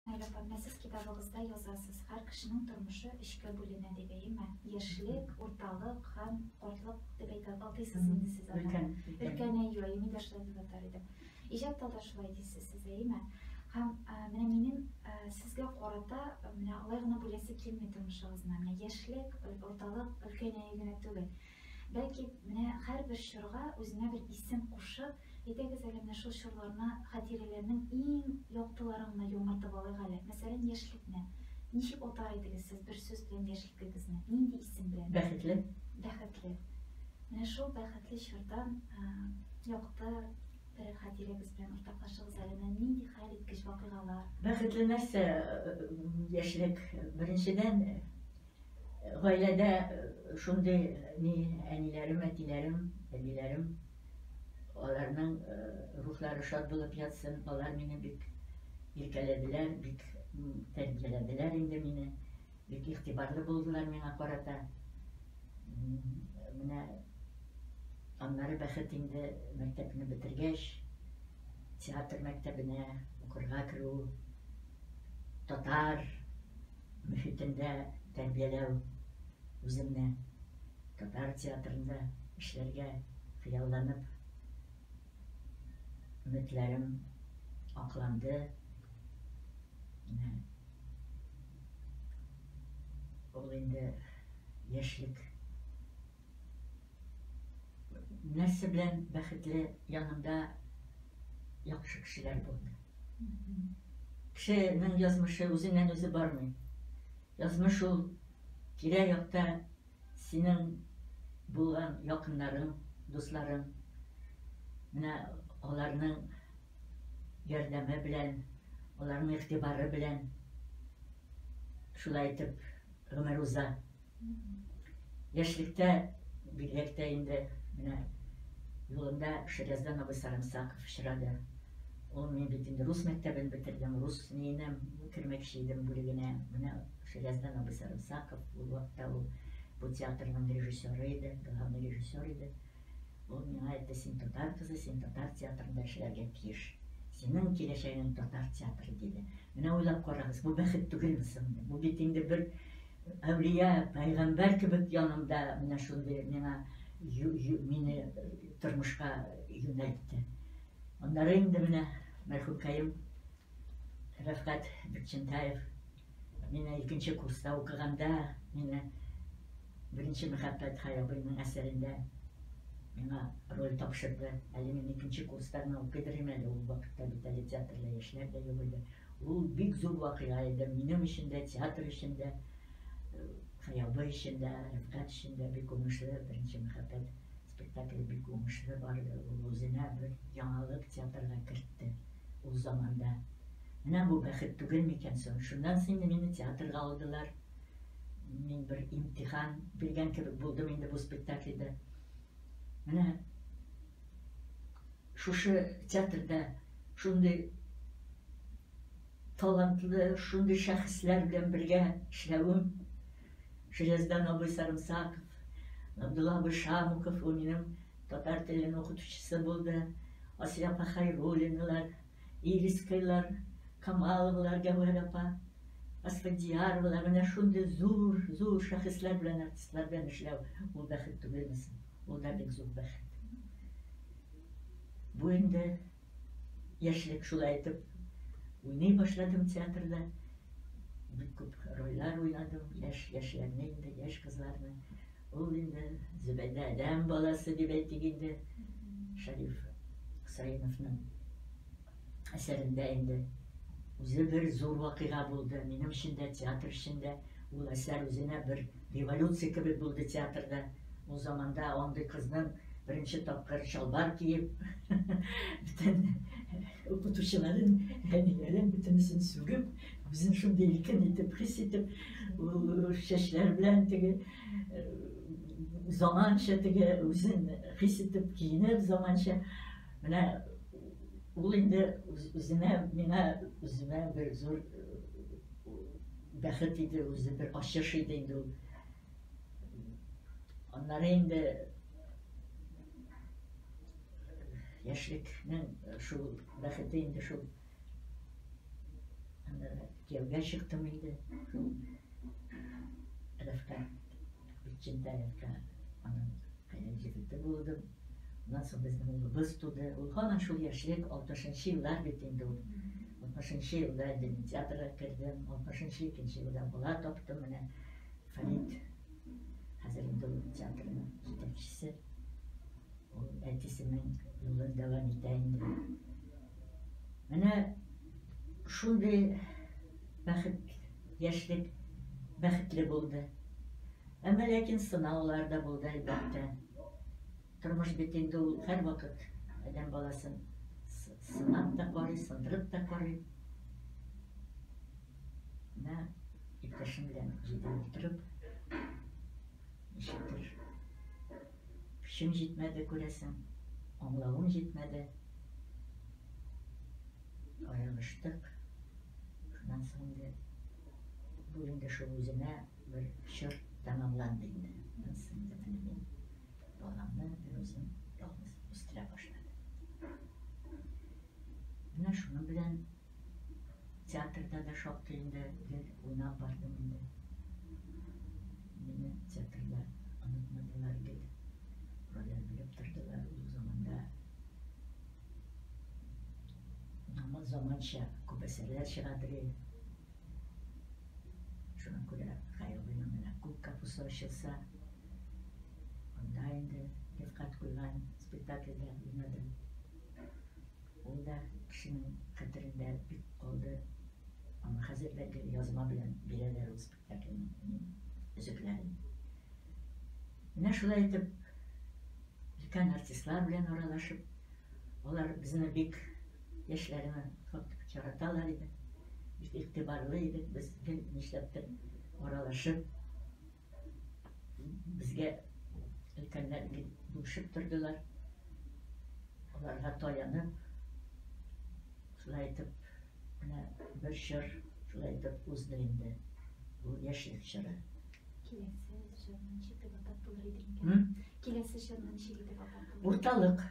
Әле апамны сез китабыгызда язасыз, һәр кешенең тормышы өчкә бүленә дип, әйеме? Яшьлек, урталык һәм картлык дип әйтә атыйсыз инде сез аны. Өлкән. Өлкән, әйе, әйеме дә шулай дип атар идем. Иҗатта да шулай дисез сез, әйеме? Һәм менә минем сезгә карата менә алай гына бүләсе килми тормышыгызны, менә яшьлек, урталык, өлкәнәю генә түгел. Бәлки, менә һәрбер чорга үзенә бер исем кушып, әйдәгез әле менә шул чорларны, хатирәләрнең иң яктыларын гына яңартып алыйк әле. Мәсәлән, яшьлекне. Ничек атар идегез сез бер сүз белән яшьлекегезне? Нинди исем белән? Бәхетле. Бәхетле. Менә шул бәхетле чордан якты бер хатирәгез белән уртаклашыгыз әле. Менә нинди хәл иткеч вакыйгалар? Бәхетле нәрсә яшьлек? Беренчедән, Гаиләдә шундый ни әниләрем, әтиләрем, әбиләрем, аларның рухлары шат булып ятсын. Алар мине бик иркәләделәр, бик тәрбияләделәр инде мине. Бик игътибарлы булдылар миңа карата. Менә аннары бәхет инде мәктәпне бетергәч, театр мәктәбенә укырга керү, татар мөхитендә тәрбияләү, үземне татар театрында эшләргә хыялланып, өметләрем акланды. Менә ул инде яшьлек нәрсә белән бәхетле янында яхшы кешеләр булды кешенең язмышы үзеннән үзе бармый язмыш ул тирә якта синең булган якыннарың дусларың менә аларның ярдәме белән аларның игътибары белән шулай итеп гомер уза Яшьлектә, бигрәк тә инде менә юлымда Шәрәздан абый Сарымсаков очрады. Ул мин бит инде рус мәктәбен бетердем, рус ниенә кермәкче идем бүлегенә. Менә Шәрәздан абый Сарымсаков ул вакытта ул бу театрның режиссеры иде, главный режиссер иде. Ул миңа әйтте, син татар кызы, син татар театрында эшләргә тиеш. Синең киләчәгең татар театры диде. Менә уйлап карагыз, бу бәхет түгелме соң? Бу бит инде бер Әүлия, пәйгамбәр кебек янымда менә шундый миңа мине тормышка юнәлтте. Аннары инде менә мәрхүкәем Рәфкать Бекчентаев мина икенче курста укыганда мина беренче мәхәббәт хаябыйның әсәрендә миңа роль тапшырды әле мин икенче курста гына укыйдыр әле ул вакытта бит әле театрда яшьләр дә юк иде Ул бик зур вакыйга иде, минем өчен дә, театр өчен дә, Хыялы өчен дә, Рифкать өчен дә бик уңышлы, Беренче мәхәббәт спектакле бик уңышлы барды. Ул үзенә бер яңалык театрга кертте ул заманда. Менә бу бәхет түгел микән соң? Шуннан соң инде мине театрга алдылар. Мин бер имтихан биргән кебек булдым инде бу спектакльдә. Менә Шушы театрда шундый талантлы, шундый шәхесләр белән бергә эшләвем, Желездан абый Сарымсаков, Габдулла абый Шамуков, ул минем татар телен укытучысы булды, Асия апа Хайруллиналар, Ирискайлар, Камаловалар, Гәүһәр апа, Асфадияровалар, менә шундый зур, зур шәхесләр белән, артистлар белән эшләү, ул бәхет түгелме соң? Ул да бик зур бәхет. Бу инде яшьлек шулай итеп уйный башладым театрда. Бик күп рольләр уйнадым, яшь яшьләрне инде, яшь кызларны. Ул инде Зөбәйдә адәм баласы дип әйтик инде. Шәриф Хусаиновның әсәрендә инде үзе бер зур вакыйга булды. Минем өчен дә, театр өчен дә ул әсәр үзенә бер революция кебек булды театрда. Ул заманда андый кызның беренче тапкыр чалбар киеп, бөтен укытучыларын, әниләрен бөтенесен сүгеп, Үзен шундый иркен итеп хис итеп, чәчләр белән теге заманча теге үзен хис итеп киенеп заманча менә ул инде үзенә миңа үземә бер зур бәхет иде үзе бер ачыш иде инде ул аннары инде яшьлекнең шул бәхете инде шул Кияүгә чыктым инде. Рәфкә, Битчендә Рәфкә, аның кайнар егете булдым. Аннан соң безнең улыбыз туды. Ул һаман шул яшьлек, 60-нчы еллар бит инде ул. 60-нчы елда инде мин театрга кердем, 60-нчы икенче елда бала таптым менә. Фәрит хәзер инде ул театрның җитәкчесе. Ул әтисенең юлын дәвам итә инде. Менә шундый бәхет, яшьлек бәхетле булды. Әмма ләкин сынаулар да булды, әлбәттә. Тормыш бит инде ул һәрвакыт адәм баласын сынап та карый, сындырып та карый. Менә иптәшем белән җидәү утырып, Ничектер, көчем җитмәде, күрәсең, аңлавым җитмәде. Аерылыштык. Шуннан соң инде бу инде шул үзенә бер чор тәмамланды инде. Аннан соң инде менә мин баламны берүзем ялгыз үстерә башладым. Менә шуның белән Театрда да шактый инде гел уйнап бардым инде. Мине театрда онытмадылар гел. Рольләр биреп тордылар ул заманда. Аңа заманча күп әсәрләр чыга бери. Шуңа күрә Хәйрулланың менә күк капусы ачылса, анда инде Рифкать куйган спектакльдә уйнадым. Ул да кешенең хәтерендә бик калды. Аны хәзер дә теге язма белән бирәләр ул спектакльнең өзекләрен. Менә шулай итеп, өлкән артистлар белән аралашып, алар безне бик яшьләрне яраталар иде. Бик игътибарлы идек без гел нишләптер аралашып, Безгә өлкәннәр бүшеп тордылар. Аларга таянып, шулай итеп, менә бер чор шулай итеп узды инде. Бу яшьлек чоры. Киләсе чорны ничек дип атап булыр иде икән? Киләсе чорны ничек дип атап булыр? Урталык.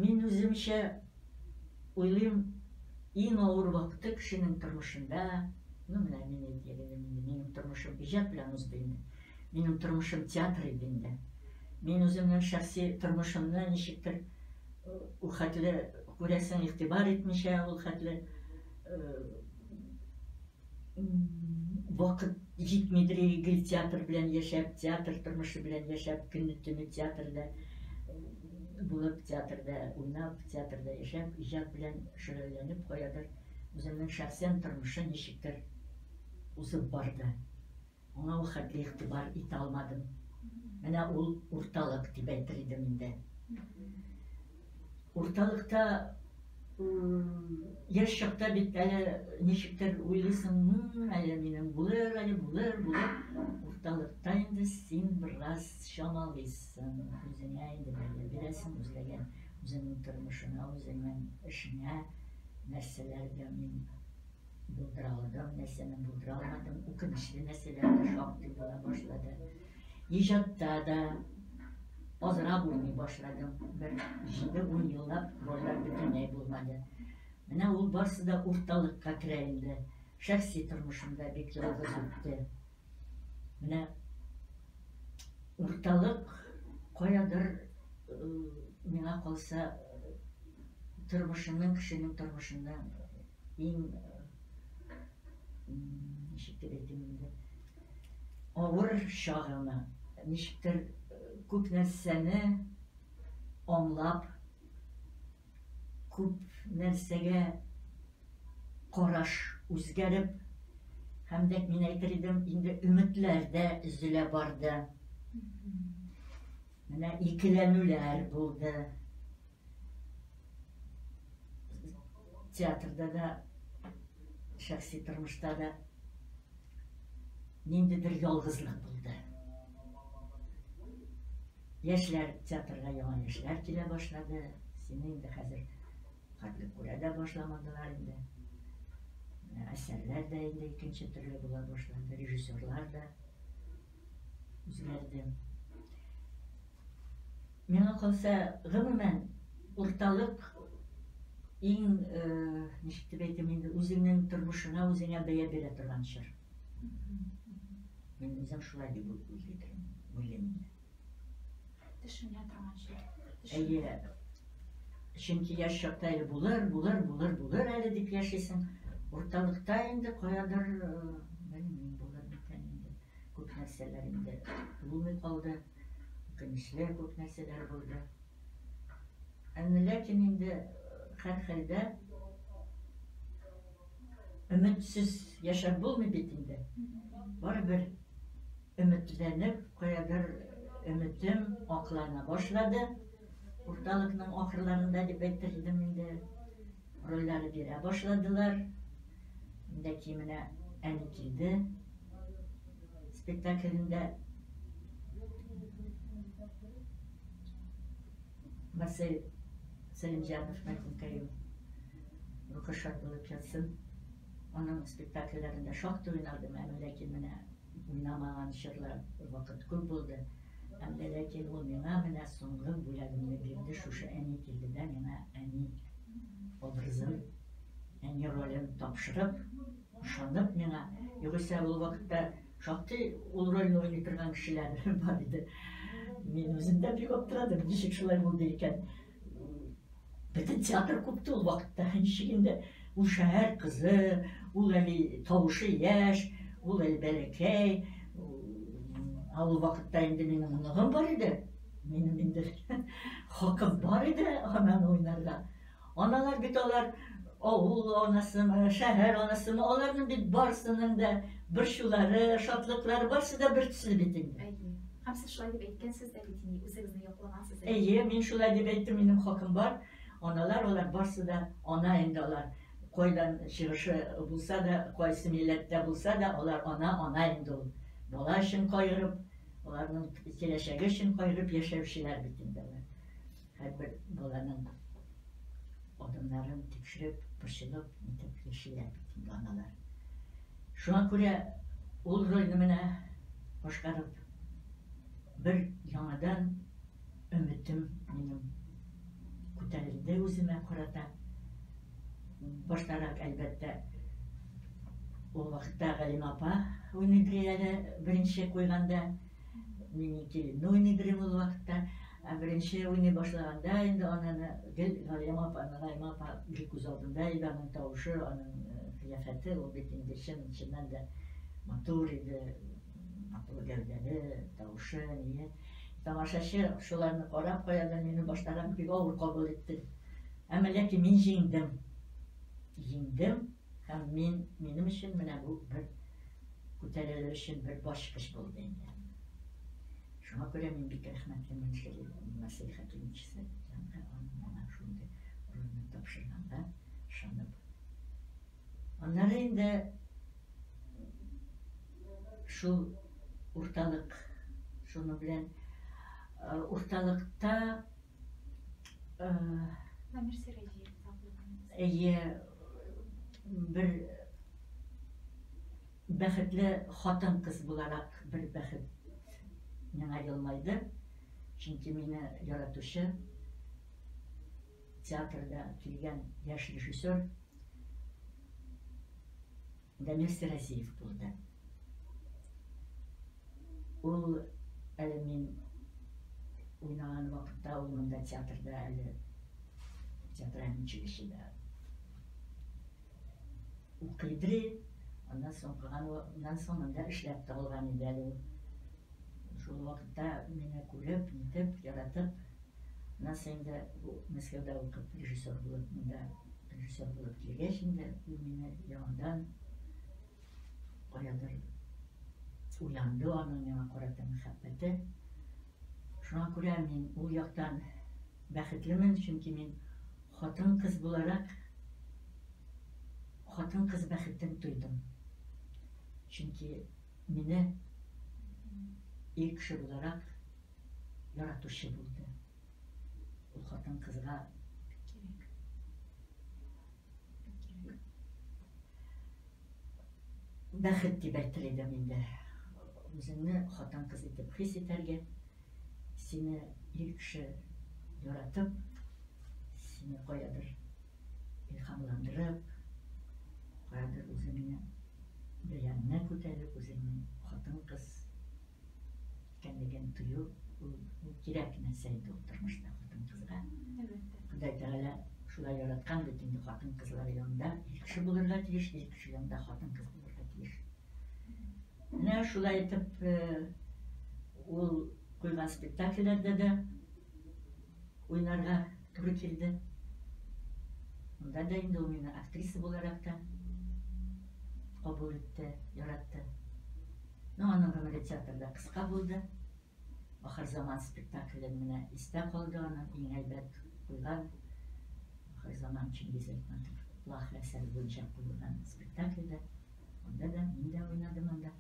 Мин үземчә уйлыйм, иң авыр вакыты кешенең тормышында, ну менә мин әйтер идем, минем тормышым иҗат белән узды инде. Минем тормышым театр иде инде. Мин үземнең шәхси тормышымны ничектер ул хәтле күрәсең игътибар итмичә, ул хәтле вакыт җитмидер гел театр белән яшәп театр тормышы белән яшәп көнне төне театрда булып театрда уйнап театрда яшәп иҗат белән шөгыльләнеп каядыр үземнең шәхсән тормышы ничектер узып барды Аңа ул хәтле игътибар итә алмадым. Менә ул урталык дип әйтер идем инде. Урталыкта яшь чакта бит әле ничектер уйлыйсың, ну, әле минем булыр, әле булыр, булыр. Урталыкта инде син бераз чамалыйсың, үзеңә инде бәя бирәсең, үзләгән, үзеңнең тормышыңа, үзеңнең эшеңә, нәрсәләргә мин Булдыралар да нәрсәне булдыра алмадым. Үкенечле нәрсәләр дә шактый була башлады. Иҗатта да азрак уйный башладым. Бер җиде-ун еллап рольләр бөтенләй булмады. Менә ул барсы да урталыкка керә инде. Шәхси тормышымда бик ялгыз үтте. Менә урталык каядыр миңа калса тормышының кешенең тормышында иң ничек дип әйтим инде авыр чагына ничектер күп нәрсәне аңлап Күп нәрсәгә караш үзгәреп, һәм дәк мин әйтер идем, инде өметләр дә өзелә барды. Менә икеләнүләр булды. Театрда да, шәхси тормышта да ниндидер ялгызлык булды. Яшьләр, театрга яңа яшьләр килә башлады. Сине инде хәзер хәтле күрә дә башламадылар инде. Менә әсәрләр дә инде икенче төрле була башлады, режиссерлар да үзгәрде. Миңа калса, гомумән, урталык иң, э, ничек дип әйтим инде, үзеңнең тормышыңа үзеңә бәя бирә торган чор. Мин үзем шулай дип уйлыйдым, уйлыйм инде. Төшенә торган шикелле. Әйе. Чөнки яшь чакта әле булыр, булыр, булыр, булыр әле дип яшисең. Урталыкта инде каядыр, белмим, булыр микән инде. Күп нәрсәләр инде булмый калды. Үкенечле күп нәрсәләр булды. Әмма ләкин инде һәрхәлдә Өметсез яшәп булмый бит инде. Барыбер өметләнеп, каядыр өметем аклана башлады. Урталыкның ахырларында дип әйтер идем инде. Рольләр бирә башладылар. Инде кименә әни килде. Спектаклендә Марсель Сәлимҗанов мәкүнкәем. Рухы шат булып ятсын. Аның спектакльләрендә шактый уйнадым, әмма ләкин менә уйнамаган чорлар вакыт күп булды. Әмма ләкин ул миңа менә соңгы бүләгемне бирде, шушы әни килде дә миңа әни образын, әни ролен тапшырып, ышанып миңа. Югыйсә ул вакытта шактый ул рольне уйный торган кешеләр бар иде. Мин үзем дә бик аптырадым, ничек шулай булды икән. Бөтен театр купты ул вакытта. Ничек инде ул шәһәр кызы, ул әле тавышы яшь, ул әле бәләкәй. Ә ул вакытта инде минем оныгым бар иде. Минем инде хакым бар иде ананы уйнарга. Аналар бит алар авыл анасымы, шәһәр анасымы, аларның бит барысының да борчулары, шатлыклары барысы да бертөсле бит инде. Һәм сез шулай дип әйткәнсез дә бит инде, үзегезне яклагансыз әле. Әйе, мин шулай дип әйттем, минем хакым бар. Аналар алар барсы да ана инде алар. Кайдан чыгышы булса да, кайсы милләттә булса да, алар ана, ана инде ул. Бала өчен кайгырып, аларның киләчәге өчен кайгырып яшәүчеләр бит инде алар. Һәрбер баланың адымнарын тикшереп, борчылып, нитеп яшиләр бит инде аналар. Шуңа күрә ул рольне менә башкарып, бер яңадан өметем минем күтәрелде үземә карата. Баштарак, әлбәттә, ул вакытта Галима апа уйныйдыр әле беренче куйганда, мин икелемне уйныйдыр идем ул вакытта. Ә беренче уйный башлаганда инде ананы гел Галиям апа, Галиям апа гел күз алдында иде, аның тавышы, аның кыяфәте, ул бит инде чын, чыннан да матур иде, матур гәүдәле, тавышы, ние. Тамашачы шуларны карап, каядыр мине баштарак бик авыр кабул итте. Әмма ләкин мин җиңдем. Җиңдем, Һәм мин, минем өчен менә бу бер күтәрелү өчен бер башкыч булды инде. Шуңа күрә мин бик рәхмәтле Мөншери Насыйх Хәкимовича янга аның миңа шундый урынны тапшырганга ышанып. Аннары инде шул урталык шуның белән урталыкта Әйе, бер бәхетле хатын кыз буларак бер бәхет миңа елмайды. Чөнки мине яратучы театрда килгән яшь режиссер Дамир Сәрәсиев булды. Ул әле мин уйнаган вакытта ул монда театрда әле театральный училищеда укыйды. Аннан соң укыганнан соң монда эшләп табылган иде әле ул. Шул вакытта мине күреп, нитеп, яратып, Аннан соң инде бу Мәскәүдә укып режиссер булып, монда режиссер булып килгәч инде, ул мине яңадан каядыр уянды аның миңа карата мәхәббәте. Шуңа күрә мин ул яктан бәхетлемен, чөнки мин хатын кыз буларак хатын кыз бәхетен тойдым. Чөнки мине ир кеше буларак яратучы булды. Ул хатын кызга бәхет дип әйтер идем инде үзеңне хатын кыз итеп хис итәргә сине ир кеше яратып сине каядыр илһамландырып каядыр үзеңне бәяненә күтәреп үзеңне хатын кыз икәнлеген тою ул кирәк нәрсә инде ул тормышта хатын-кызга. Ходай Тәгалә шулай яраткан бит инде хатын-кызлар янында ир кеше булырга тиеш, ир кеше янында хатын-кыз булырга тиеш. Менә шулай итеп э, ул куйган спектакльләрдә дә Уйнарга туры килде. Монда да инде ул мине актриса буларак та кабул итте, яратты. Но ну, аның гомере театрда кыска булды. Ахыр заман спектакле менә истә калды аны, иң әйбәт куйган Ахыр заман Чингиз Айтматов плах әсәре буенча куелган спектакльдә. Анда да мин дә уйнадым анда.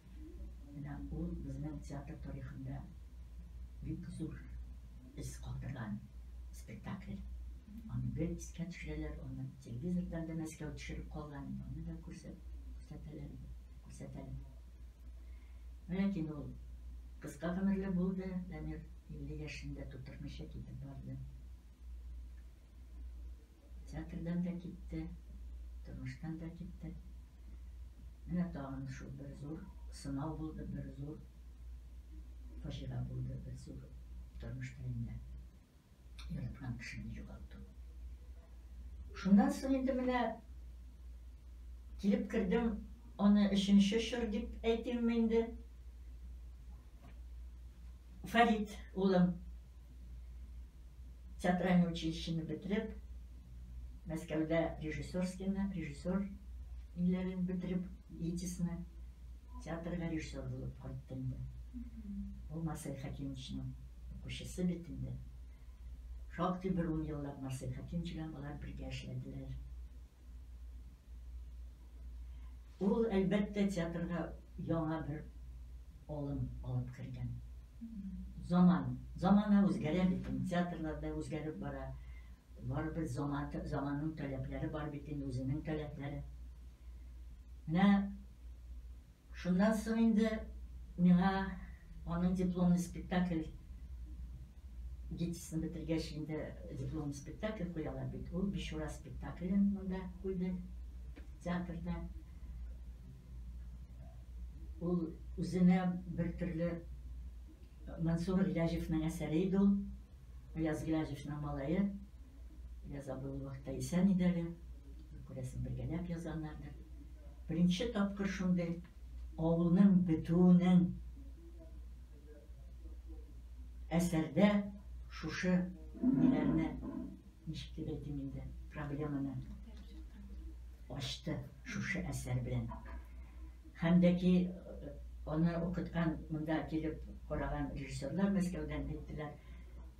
Менә ул безнең театр тарихында бик зур эз калдырган спектакль. Аны гел искә төшерәләр, аны телевизордан да Мәскәү төшереп калган иде, аны да күрсәт, күрсәтәләр иде, күрсәтәләр. Ләкин ул кыска гомерле булды, Дамир 50 яшендә тутырмыйча китеп барды. Театрдан да китте, тормыштан да китте. Менә тагын шул бер зур сынау булды, бер зур фаҗига булды, бер зур тормышта инде яраткан кешене югалту. Шуннан соң инде менә килеп кердем, аны өченче чор дип әйтимме инде. Фарид улым театральный училищены бетереп, Мәскәүдә режиссерскийны, режиссер ниләрен бетереп, ЕТИСны театрга режиссер булып кайтты инде. Ул Марсель Хәкимовичның укучысы бит инде. Шактый бер ун еллап Марсель Хәкимович белән алар бергә эшләделәр. Ул, әлбәттә, театрга яңа бер алым алып кергән. Заман, замана үзгәрә бит, театрлар да үзгәреп бара. Барыбер заман, заманның таләпләре бар бит, үзенең таләпләре. Менә Шуннан соң инде миңа аның дипломный спектакль гитисын бетергәч инде дипломный спектакль куялар бит. Ул Бичура спектаклен монда куйды театрда. Ул үзенә бер төрле Мансур Гыляҗевның әсәре иде ул. Аяз Гыляҗевның малае. Я забыл вакытта исән иде әле. Күрәсең, бергәләп язганнардыр. Беренче тапкыр шундый авылның бетүенең әсәрдә шушы ниләрне ничек дип әйтим инде, проблеманы ачты шушы әсәр белән. Һәм дә ки аны укыткан, монда килеп караган режиссерлар Мәскәүдән әйттеләр,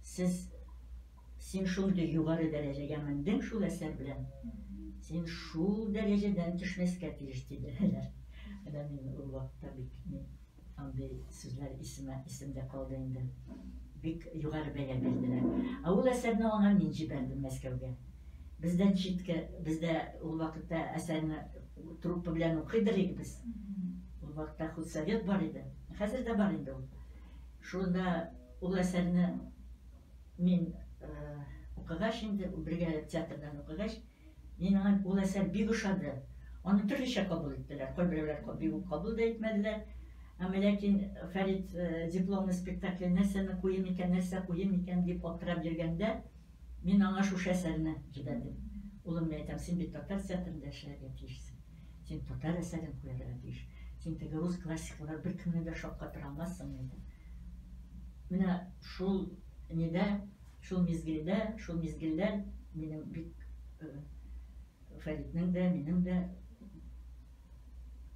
сез Син шундый югары дәрәҗәгә мендең шул әсәр белән, син шул дәрәҗәдән төшмәскә тиеш, диделәр. Менә мин ул вакытта бик андый сүзләр исемә исемдә калды инде. Бик югары бәя бирделәр. Ә ул әсәрне аңа мин җибәрдем Мәскәүгә. Бездән читкә, бездә ул вакытта әсәрне труппа белән укыйдык иде без. Ул вакытта худсовет бар иде. Хәзер дә бар инде ул. Шунда ул әсәрне Мин укыгач инде, бергәләп театрдан укыгач, мин аңа ул әсәр бик ошады. Аны төрлечә кабул иттеләр. Кайберәүләр бик үк кабул да итмәделәр. Әмма ләкин Фәрит дипломный спектакль нәрсәне куем икән, нәрсә куем икән дип аптырап йөргәндә, мин аңа шушы әсәрне җибәрдем. Улым, мин әйтәм, син бит татар театрында эшләргә тиешсең. Син татар әсәрен куярга тиеш. Син теге рус классиклары беркемне дә шаккатыра алмассың, диде. Менә шул нидә, шул мизгелдә, шул мизгелләр минем бик Фәритнең дә, минем дә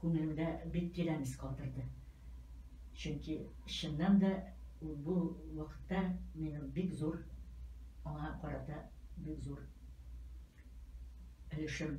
күңелемдә бик тирән ис калдырды. Чөнки чыннан да бу вакытта минем бик зур аңа карата бик зур өлешем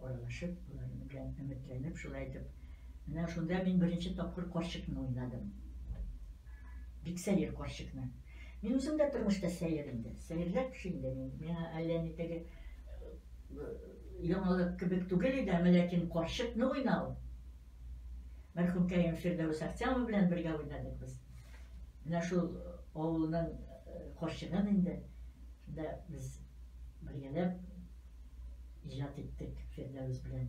Аралашып, аларның белән өметләнеп, шулай итеп, менә шунда мин беренче тапкыр карчыкны уйнадым. Бик сәер карчыкны. Мин үзем дә тормышта сәер инде. Сәерләр кеше инде мин. Миңа әллә ни теге э, яңалык кебек түгел иде, әмма ләкин карчыкны уйнау. Мәрхүм Кәрим Фирдәвес Ахтямов белән бергә уйнадык без. Менә шул э, авылның э, карчыгын инде. Шунда без бергәләп иҗат иттек Фирдәвес белән.